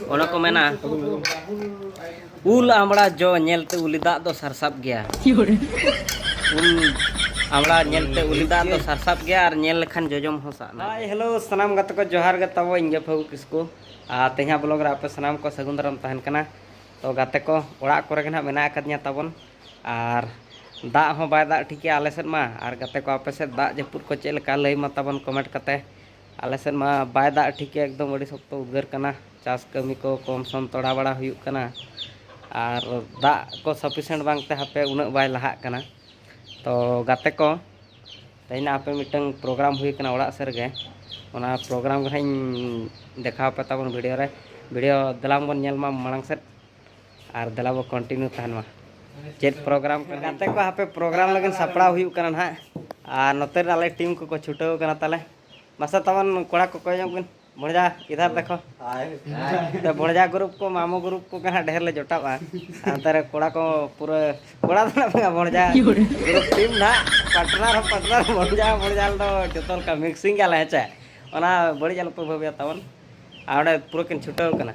ᱚᱱᱟ ᱠᱚ ᱢᱮᱱᱟ ᱩᱞ ᱟᱢᱲᱟ ᱡᱚ ᱧᱮᱞᱛᱮ ᱩᱞᱤ ᱫᱟᱜ ᱫᱚ ᱥᱟᱨᱥᱟᱵ ᱜᱮᱭᱟ ᱩᱞ ᱟᱢᱲᱟ ᱧᱮᱞᱛᱮ ᱩᱞᱤ ᱫᱟᱜ ᱫᱚ ᱥᱟᱨᱥᱟᱵ ᱜᱮᱭᱟ ᱟᱨ ᱧᱮᱞ ᱞᱮᱠᱷᱟᱱ ᱡᱚᱡᱚᱢ ᱦᱚᱸ ᱥᱟᱵ ᱱᱟ ᱦᱟᱭ ᱦᱮᱞᱳ ᱥᱟᱱᱟᱢ ᱜᱟᱛᱮ ᱠᱚ ᱡᱚᱦᱟᱨ ᱜᱮ ᱛᱟᱵᱚ ᱤᱧ ᱜᱮ ᱯᱷᱟᱹᱜᱩ ᱠᱤᱥᱠᱩ ᱟᱨ ᱛᱮᱦᱮᱧᱟᱜ ᱵᱞᱚᱜ ᱨᱮ ᱟᱯᱮ ᱥᱟᱱᱟᱢ ᱠᱚ ᱥᱟᱹᱜᱩᱱ ᱫᱟᱨᱟᱢ ᱛᱟᱦᱮᱱ ᱠᱟᱱᱟ ᱛᱚ ᱜᱟᱛᱮ ᱠᱚ ᱚᱲᱟᱜ ᱠᱚᱨᱮ ᱜᱮ ᱱᱟᱜ ᱢᱮᱱᱟᱜ ᱟᱠᱟᱫᱤᱧᱟ ᱛᱟᱵᱚᱱ ᱟᱨ ᱫᱟᱜ ᱦᱚᱸ ᱵᱟᱭ ᱫᱟᱜ ᱴᱷᱤᱠᱮᱜᱼᱟ ᱟᱞᱮ ᱥᱮᱫ ᱢᱟ ᱟᱨ ᱜᱟᱛᱮ ᱠᱚ ᱟᱯᱮ ᱥᱮᱫ ᱫᱟᱜ ᱡᱟᱹᱯᱩᱫ ᱠᱚ ᱪᱮᱫ ᱞᱮᱠᱟ ᱞᱟᱹᱭ ᱢᱟ ᱛᱟᱵᱚᱱ ᱠᱚᱢᱮᱱᱴ ᱠᱟᱛᱮ ᱟᱞᱮ ᱥᱮᱫ ᱢᱟ ᱵᱟᱭ ᱫᱟᱜ ᱴᱷᱤᱠ ᱮᱠᱫᱚᱢ ᱟᱹᱰᱤ ᱥᱚᱠᱛᱚ ᱩᱫᱽᱜᱟᱹᱨ ᱠᱟᱱᱟ ᱪᱟᱥ ᱠᱟᱹᱢᱤ ᱠᱚ ᱠᱚᱢ ᱥᱚᱢ ᱛᱚᱲᱟ ᱵᱟᱲᱟ ᱦᱩᱭᱩᱜ ᱠᱟᱱᱟ ᱟᱨ ᱫᱟᱜ ᱠᱚ ᱥᱟᱯᱷᱤᱥᱮᱱᱴ ᱵᱟᱝᱛᱮ ᱦᱟᱯᱮ ᱩᱱᱟᱹᱜ ᱵᱟᱭ ᱞᱟᱦᱟᱜ ᱠᱟᱱᱟ ᱛᱚ ᱜᱟᱛᱮ ᱠᱚ ᱛᱮᱦᱮᱧ ᱟᱯᱮ ᱢᱤᱫᱴᱟᱝ ᱯᱨᱳᱜᱨᱟᱢ ᱦᱩᱭ ᱠᱟᱱᱟ ᱚᱲᱟᱜ ᱥᱮᱫ ᱨᱮᱜᱮ ᱚᱱᱟ ᱯᱨᱳᱜᱨᱟᱢ ᱜᱮ ᱦᱟᱸᱜ ᱤᱧ ᱫᱮᱠᱷᱟᱣ ᱯᱮ ᱛᱟᱵᱚᱱ ᱵᱷᱤᱰᱤᱭᱳ ᱨᱮ ᱵᱷᱤᱰᱤᱭᱳ ᱫᱮᱞᱟᱝ ᱵᱚᱱ ᱧᱮᱞ ᱢᱟ ᱢᱟᱲᱟᱝ ᱥᱮᱫ ᱟᱨ ᱫᱮᱞᱟ ᱵᱚ ᱠᱚᱱᱴᱤᱱᱤᱭᱩ ᱛᱟᱦᱮᱱ ᱢᱟ ᱪᱮᱫ ᱯᱨᱳᱜᱨᱟᱢ ᱠᱚ ᱜᱟᱛᱮ ᱠᱚ ᱦᱟᱯᱮ ᱯᱨᱳᱜᱨᱟᱢ ᱞᱟᱹᱜᱤᱫ ᱥᱟᱯᱲᱟᱣ ᱦᱩᱭᱩᱜ ᱠᱟᱱᱟ ᱱᱟᱦᱟᱜ ᱟᱨ ᱱᱚᱛᱮ ᱨᱮ ᱟᱞᱮ ᱴᱤᱢ ᱠᱚᱠᱚ ᱪᱷᱩᱴᱟᱹᱣ ᱠᱟᱱᱟ ᱛᱟᱞᱮ ᱢᱟᱥᱮ ᱛᱟᱵᱚᱱ ᱠᱚᱲᱟ ᱠᱚ ᱠᱚᱭᱚᱜ ᱵᱤᱱ ᱵᱚᱲᱡᱟ ᱤᱫᱷᱟᱨ ᱫᱮᱠᱷᱚ ᱛᱚ ᱵᱚᱲᱡᱟ ᱜᱨᱩᱯ ᱠᱚ ᱢᱟᱢᱚ ᱜᱨᱩᱯ ᱠᱚ ᱜᱮ ᱦᱟᱸᱜ ᱰᱷᱮᱨ ᱞᱮ ᱡᱚᱴᱟᱣᱟ ᱱᱚᱛᱮ ᱨᱮ ᱠᱚᱲᱟ ᱠᱚ ᱯᱩᱨᱟᱹ ᱠᱚᱲᱟ ᱫᱚ ᱱᱟᱜ ᱵᱟᱝᱟ ᱵᱚᱲᱡᱟ ᱜᱨᱩᱯ ᱴᱤᱢ ᱱᱟᱜ ᱯᱟᱴᱱᱟᱨ ᱦᱚᱸ ᱯᱟᱴᱱᱟᱨ ᱵᱚᱲᱡᱟ ᱵᱚᱲᱡᱟ ᱫᱚ ᱡᱚᱛᱚ ᱞᱮᱠᱟ ᱢᱤᱠᱥᱤᱝ ᱜᱮᱭᱟᱞᱮ ᱦᱮᱸ ᱪᱮ ᱚᱱᱟ ᱵᱟᱹᱲᱤᱡ ᱟᱞᱚᱯᱮ ᱵᱷᱟᱹᱵᱤᱭᱟ ᱛᱟᱵᱚᱱ ᱟᱨ ᱚᱸᱰᱮ ᱯᱩᱨᱟᱹ ᱠᱤᱱ ᱪᱷᱩᱴᱟᱹᱣ ᱠᱟᱱᱟ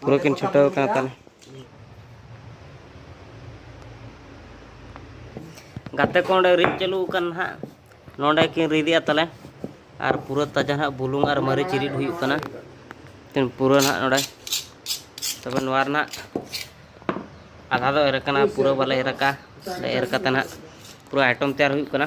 ᱯᱩᱨᱟᱹ ᱠᱤᱱ ᱪᱷᱩᱴᱟᱹᱣ ᱠᱟᱱᱟ ᱛᱟᱦᱚᱞᱮ ᱜᱟᱛᱮ ᱠᱚ ᱚᱸᱰᱮ ᱨᱤᱫ ᱪᱟᱹᱞᱩ ᱟᱠᱟᱱ ᱦᱟᱸᱜ ᱱᱚᱸᱰᱮ ᱠᱤᱱ ᱨᱤᱫᱮᱜᱼᱟ ᱛᱟᱦᱚᱞᱮ ᱟᱨ ᱯᱩᱨᱟᱹ ᱛᱟᱡᱟ ᱦᱟᱸᱜ ᱵᱩᱞᱩᱝ ᱟᱨ ᱢᱟᱹᱨᱤᱪ ᱨᱤᱫ ᱦᱩᱭᱩᱜ ᱠᱟᱱᱟ ᱛᱤᱱ ᱯᱩᱨᱟᱹ ᱦᱟᱸᱜ ᱱᱚᱸᱰᱮ ᱛᱚᱵᱮ ᱱᱚᱣᱟ ᱨᱮᱱᱟᱜ ᱟᱫᱷᱟ ᱫᱚ ᱮᱨ ᱠᱟᱱᱟ ᱯᱩᱨᱟᱹ ᱵᱟᱞᱮ ᱮᱨ ᱟᱠᱟᱫᱼᱟ ᱮᱨ ᱠᱟᱛᱮ ᱦᱟᱸᱜ ᱯᱩᱨᱟᱹ ᱟᱭᱴᱚᱢ ᱛᱮᱭᱟᱨ ᱦᱩᱭᱩᱜ ᱠᱟᱱᱟ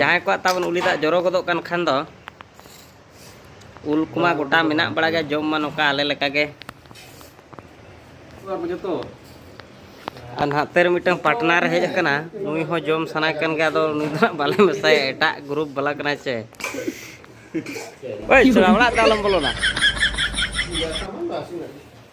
ᱡᱟᱦᱟᱸᱭ ᱠᱚᱣᱟᱜ ᱛᱟᱵᱚᱱ ᱩᱞᱤ ᱫᱟᱜ ᱡᱚᱨᱚ ᱜᱚᱫᱚᱜ ᱠᱟᱱ ᱠᱷᱟᱱ ᱫᱚ ᱩᱞ ᱠᱚᱢᱟ ᱜᱚᱴᱟ ᱢᱮᱱᱟᱜ ᱵᱟᱲᱟ ᱜᱮ ᱡᱚᱢ ᱢᱟ ᱱᱚᱝᱠᱟ ᱟᱞᱮ ᱞᱮᱠᱟ ᱜᱮ ᱟᱨ ᱱᱟᱦᱟᱜ ᱛᱮᱨ ᱢᱤᱫᱴᱟᱝ ᱯᱟᱴᱱᱟᱨ ᱦᱮᱡ ᱟᱠᱟᱱᱟ ᱱᱩᱭ ᱦᱚᱸ ᱡᱚᱢ ᱥᱟᱱᱟᱭ ᱠᱟᱱ ᱜᱮᱭᱟ ᱟᱫᱚ ᱱᱩᱭ ᱫᱚ ᱵᱟᱞᱮ ᱢᱮᱥᱟᱭᱟ ᱮᱴᱟᱜ ᱜᱨᱩᱯ ᱵᱟᱞᱟ ᱠᱟᱱᱟᱭ ᱪᱮ ᱳᱭ ᱥᱚᱲᱟ ᱚᱲᱟᱜ ᱫᱚ ᱟᱞᱚᱢ ᱵᱚᱞᱚᱱᱟ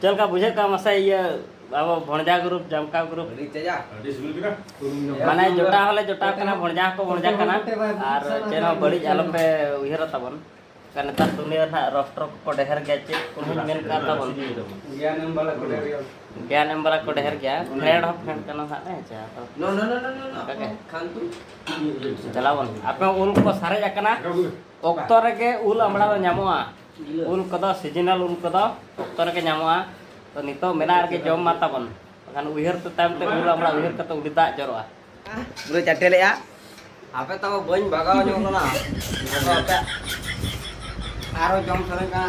ᱪᱮᱫ ᱞᱮᱠᱟ ᱵᱩᱡᱷᱟᱹᱜ ᱠᱟᱱᱟ ᱢᱟᱥᱮ ᱤᱭᱟᱹ ᱟᱵᱚ ᱵᱷᱚᱬᱡᱟ ᱜᱨᱩᱯ ᱡᱟᱢᱠᱟ ᱜᱨᱩᱯ ᱢᱟᱱᱮ ᱡᱚᱴᱟᱣ ᱦᱚᱸᱞᱮ ᱡᱚᱴᱟᱣ ᱠᱟᱱᱟ ᱵᱷᱚᱬᱡᱟ ᱦᱚᱸᱠᱚ ᱵᱷᱚᱬᱡᱟ ᱠᱟᱱᱟ ᱟᱨ ᱪᱮᱫ ᱦᱚᱸ ᱵᱟᱹᱲᱤᱡ ᱟᱞᱚᱯᱮ ᱩᱭᱦᱟᱹᱨᱟ ᱛᱟᱵᱚᱱ ᱠᱟ ᱱᱮᱛᱟᱨ ᱫᱩᱱᱤᱭᱟᱹ ᱨᱮ ᱦᱟᱸᱜ ᱨᱚᱯᱴᱨᱚ ᱠᱚᱠᱚ ᱰᱷᱮᱨ ᱜᱮᱭᱟ ᱪᱮᱫ ᱠᱚ ᱢᱮᱱ ᱠᱟᱱ ᱛᱟᱵᱚᱱ ᱜᱮᱭᱟᱱ ᱮᱢ ᱵᱟᱞᱟ ᱠᱚ ᱰᱷᱮᱨ ᱜᱮᱭᱟ ᱜᱮᱭᱟᱱ ᱮᱢ ᱵᱟᱞᱟ ᱠᱚ ᱰᱷᱮᱨ ᱜᱮᱭᱟ ᱯᱷᱨᱮᱱᱰ ᱦᱚᱸ ᱯᱷᱨᱮᱱᱰ ᱠᱟᱱᱟ ᱦᱟᱸᱜ ᱦᱮᱸ ᱪᱮ ᱛᱚ ᱱᱚ ᱱᱚ ᱱᱚ ᱱᱚ ᱱᱚ ᱠᱷᱟᱱᱛᱩ ᱪᱟᱞᱟᱣ ᱵᱚᱱ ᱟᱯᱮ ᱩᱞ ᱠᱚ ᱥᱟᱨᱮᱡ ᱟᱠᱟᱱᱟ ᱚᱠᱛᱚ ᱨᱮᱜᱮ ᱩᱞ ᱟᱢᱲᱟ ᱫᱚ ᱧᱟᱢᱚᱜᱼᱟ ᱩᱞ ᱠᱚᱫᱚ ᱥᱤᱡᱤᱱᱟᱞ ᱩᱞ ᱠᱚᱫᱚ ᱚᱠᱛᱚ ᱨᱮᱜᱮ ᱧᱟᱢᱚᱜᱼᱟ ᱛᱚ ᱱᱤᱛᱚᱜ ᱢᱮᱱᱟᱜ ᱨᱮᱜᱮ ᱡᱚᱢ ᱢᱟ ᱛᱟᱵᱚᱱ ᱵᱟᱠᱷᱟᱱ ᱩᱭᱦᱟᱹᱨ ᱛᱮ ᱛᱟᱭᱚᱢ ᱛᱮ ᱩᱞ ᱟᱢᱲᱟ ᱩᱭᱦᱟᱹᱨ ᱠᱟᱛᱮ ᱩᱰᱤ ᱫᱟᱜ ᱡᱚᱨᱚᱜᱼᱟ ᱯᱩᱨᱟᱹ ᱪᱟᱴᱮ ᱞᱮᱜᱼᱟ ᱟᱯᱮ ᱛᱟᱵᱚ ᱵᱟᱹᱧ ᱵᱟᱜᱟᱣ ᱧᱚᱜ ᱞᱮᱱᱟ ᱟᱨᱚ ᱡᱚᱢ ᱥᱟᱱᱟᱧ ᱠᱟᱱᱟ